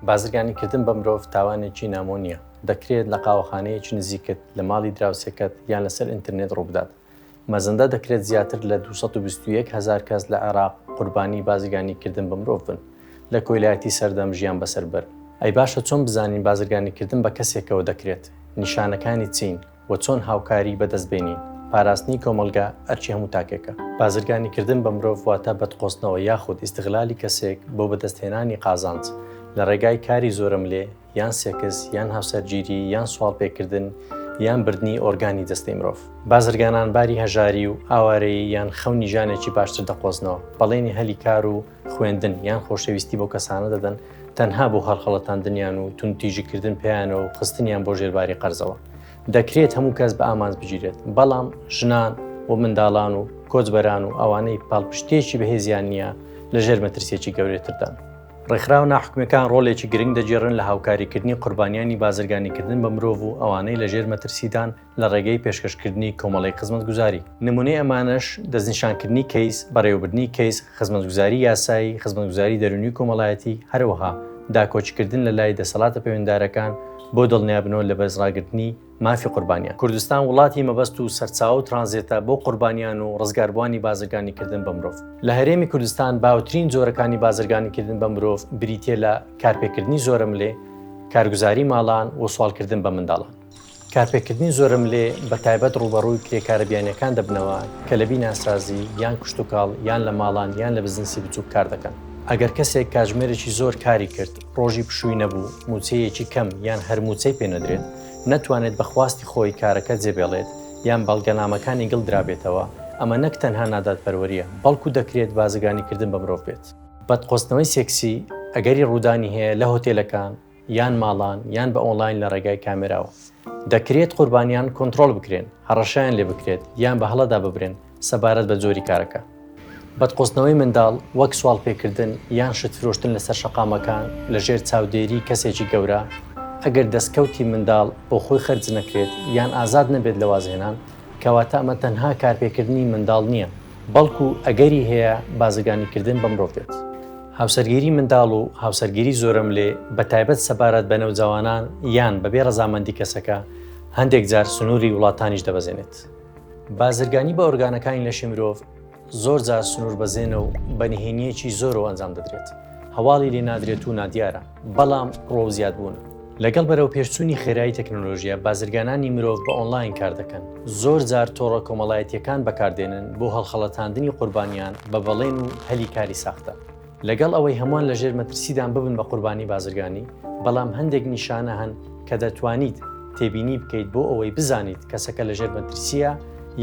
بازرگانی کردن بە مرۆڤ تاوانێکی نامۆ نییە دەکرێت لە قاوەخانەیەکی نزیکت لە ماڵی دراوسێکەت یان لەسەر ئینتررنێت ڕووبدات مەزەندە دەکرێت زیاتر لە 221 هزار کەس لە عێراق قوربانی بازرگانی کردن بە مرۆڤ بن لە کۆیلایەتی سەردەم ژیان بەسەر بەر ئەی باشە چۆن بزانین بازرگانی کردن بە کەسێکەوە دەکرێت نیشانەکانی چین و چۆن هاوکاری بەدەست بێنین. پاراستنی کۆمەڵگا ئەرکی هەموو تاکێکە. بازرگانی کردن بە مرۆڤ واتە بەدقۆستنەوە یاخود ئیستغلالی کەسێک بۆ بەدەست هێنانی قازانج لە ڕێگای کاری زۆرەملێ یان سێکس یان هاوسەرگیری یان سواڵ پێ کردن یان بردنی ئۆرگانی جەستەی مرۆڤ. بازرگانان باری هەژاری و ئاوارەیی یان خەونی ژیانێکی باشتر دەقۆزنەوە، بەڵێنی هەلی کار و خوێندن یان خۆشەویستی بۆ کەسانە دەدەن تەنها بۆ هەڵخەڵەتاندنیان و تون تیژیکردن پێیانەوە و خستنیان بۆ ژێرباری قەرزەوە دەکرێت هەموو کەس بە ئامانج بگیرێت بەڵام ژنان و منداڵان و کۆچبەران و ئەوانەی پاڵپشتێکی بەهێزیان نییە لە ژێر مەترسێکی گەورێتردان. ڕێکخراو ناحکومەکان ڕۆلێکی گرنگ دەگێڕن لە هاوکاریکردنی قوربانیانی بازرگانیکردن بە مرۆڤ و ئەوانەی لە ژێر مەترسیدان لە ڕێگەی پێشکەشکردنی کۆمەڵەی خزمەتگوزاری. نمونەی ئەمانەش، دەستنیشانکردنی کەیس، بەڕێوەبردنی کەیس، خزمەتگوزاری یاسایی، خزمەتگوزاری دەرونی و کۆمەڵایەتی، هەروەها داکۆکیکردن لە لای دەسەڵاتە پەیوەنددارەکان بۆ دڵنیابنەوە لە بەرزڕاگرتنی مافی قوربانیان. کوردستان وڵاتی مەبەست و سەرچاوە و ترانزێتە بۆ قوربانیان و ڕزگاربوانی بازرگانیکردن بە مرۆڤ. لە هەرێمی کوردستان باوترین جۆرەکانی بازرگانیکردن بە مرۆڤ بریتیە لە کارپێکردنی زۆرەملێ، کارگوزاری ماڵان و سواڵکردن بە منداڵان. کارپێکردنی زۆرەملێ بە تایبەت ڕووبەڕووی کرێکارە بیانییەکان دەبنەوە کە لە بیناسازی، یان کشتوکاڵ، یان لە ماڵان یان لە بزنسی بچووک کار دەکەن. ئەگەر کەسێک کاتژمێرێکی زۆر کاری کرد، ڕۆژی پشووی نەبوو، مووچەیەکی کەم یان هەر مووچەی پێ نەدرێت، نەتوانێت بە خواستی خۆی کارەکە جێبێڵێت یان بەڵگەنامەکانی گڵ درابێتەوە، ئەمە نەک تەنها نادادپەروەرییە، بەڵکو دەکرێت بازرگانیکردن بە مرۆڤ بێت. بتقۆزتنەوەی سێکسی ئەگەری ڕوودانی هەیە لە هۆتێلەکان، یان ماڵان یان بە ئۆنڵاین لە ڕێگای کامێراوە. دەکرێت قوربانیان کۆنتڕۆڵ بکرێن، هەڕەشەیان لێ بکرێت یان بە هەڵەدا ببرێن سەبارەت بە جۆری کارەکە. بەدقۆزتنەوەی منداڵ وەک سواڵپێکردن یان شت فرۆشتن لەسەر شەقامەکان لەژێر چاودێری کەسێکی گەورە، ئەگەر دەستکەوتی منداڵ بۆ خۆی خەرج نەکرێت یان ئازاد نەبێت لە وازهێنان، کەواتە ئەمە تەنها کارپێکردنی منداڵ نییە، بەڵکو ئەگەری هەیە بازرگانیکردن بە مرۆڤ بێت. هاوسەرگیری منداڵ و هاوسەرگیری زۆرەملێ بە تایبەت سەبارەت بە نەوجەوانان یان بەبێ ڕەزامەندی کەسەکە هەندێک جار سنووری وڵاتانیش دەبەزێنێت. بازرگانی بە ئۆرگانەکانی لەشی مرۆڤ زۆر جار سنووربەزێنە و بە نهێنییەکی زۆرەوە ئەنجام دەدرێت، هەواڵی لێ نادرێت و نادیارە. بەڵام ڕۆ زیاد بوون. لەگەڵ بەرەو پێشچوونی خێرایی تەکنۆلۆژیە بازرگانانی مرۆڤ بە ئۆنلاین کار دەکەن زۆر جار تۆڕە کۆمەڵایەتیەکان بەکاردێنن بۆ هەڵخەڵەتاندنی قوربانیان بە بەڵێن و هەلی کاری ساختە لەگەڵ ئەوەی هەمووان لە ژێر مەترسیدان ببن بە قوربانی بازرگانی بەڵام هەندێک نیشانە هەن کە دەتوانیت تێبینی بکەیت بۆ ئەوەی بزانیت کەسەکە لە ژێر مەترسیە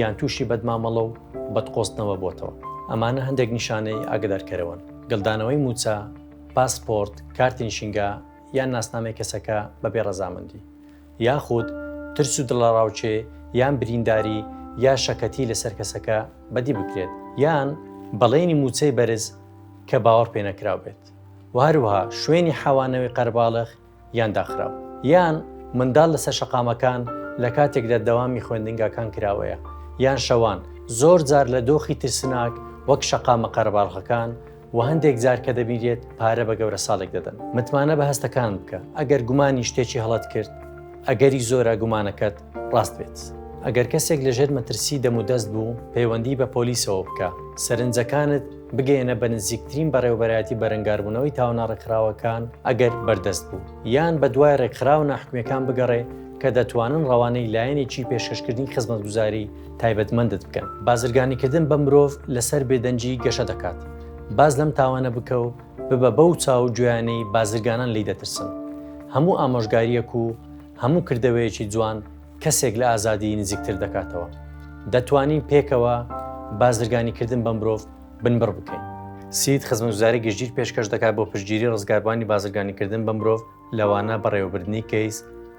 یان تووشی بەدمامەڵە و بەدقۆستنەوە بۆتەوە ئەمانە هەندێک نیشانەی ئاگدارکەرەوەن گەلدانەوەی موچە پاسپۆرت، کارتی نشینگە یان ناسنامەی کەسەکە بەبێ ڕەزامەندی، یاخود ترس و دڵەڕاوکێ یان برینداری یا شەکەتی لەسەر کەسەکە بەدی بکرێت، یان بەڵێنی مووچەی بەرز کە باوەڕپێنەکراو بێت و هەروەها شوێنی حەوانەوەی قەرەباڵغ، یان داخراو. یان منداڵ لەسەر شەقامەکان لە کاتێکدا دەوامی خوێندنگاکان کراوەیە، یان شەوان، زۆر جار لە دۆخی ترسناک وەک شەقامە قەرەباڵغەکان و هەندێک جار کە دەبینرێت پارە بە گەورەساڵێک دەدەن. متمانە بە هەستەکانت بکە، ئەگەر گومانی شتێکی هەڵەت کرد، ئەگەری زۆرە گومانەکەت ڕاست بێت. ئەگەر کەسێک لەژێر مەترسی دەمودەست بوو، پەیوەندی بە پۆلیسەوە بکە، سەرنجەکانت. بگەیەنە بە نزیکترین بەڕێوەبەرایەتی بەرەنگاربوونەوەی تاوانە ڕێکخراوەکان ئەگەر بەردەست بوو یان بە دوای ڕێکخراوە ناحکومەکان بگەڕێ کە دەتوانن ڕەوانەی لایەنێکی پێشکەشکردنی خزمەتگوزاری تایبەتمەندت بکەن بازرگانیکردن بە مرۆڤ لەسەر بێدەنگی گەشە دەکات باز لەم تاوانە بکە و ببە بەو چاو گوێیانەی بازرگانان لی دەترسن هەموو ئامۆژگاریەک و هەموو کردەوەیەکی جوان کەسێک لە ئازادیی نزیکتر دەکاتەوە. دەتوانین پێکەوە بازرگانیکردن بە مرۆڤ بنبڕ بکەین. سید خزمەتگوزاری گشتگیر پێشکەش دەکات بۆ پشتگیری ڕزگاربووانی بازرگانیکردن بە مرۆڤ، لەوانە بەڕێوەبردنی کەیس،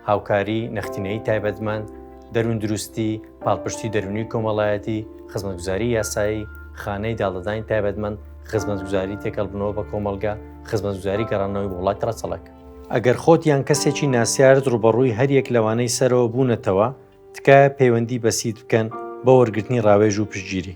هاوکاری، نەختینەیی تایبەتمەند، دەرووندروستی، پاڵپشتی دەروونی و کۆمەڵایەتی، خزمەتگوزاری یاسایی، خانەی داڵدەدانی تایبەتمەند، خزمەتگوزاری تێکەڵبوونەوە بە کۆمەڵگە، خزمەتگوزاری گەڕاندنەوەی بۆ وڵاتی ڕەچەڵەک. ئەگەر خۆت یان کەسێکی ناسیارت ڕوبەڕووی هەریەک لەوانەی سەرەوە بوونەتەوە، تکایە پەیوەندی بە سید بکەن بۆ وەرگرتنی ڕاوێژ و پشتگیری.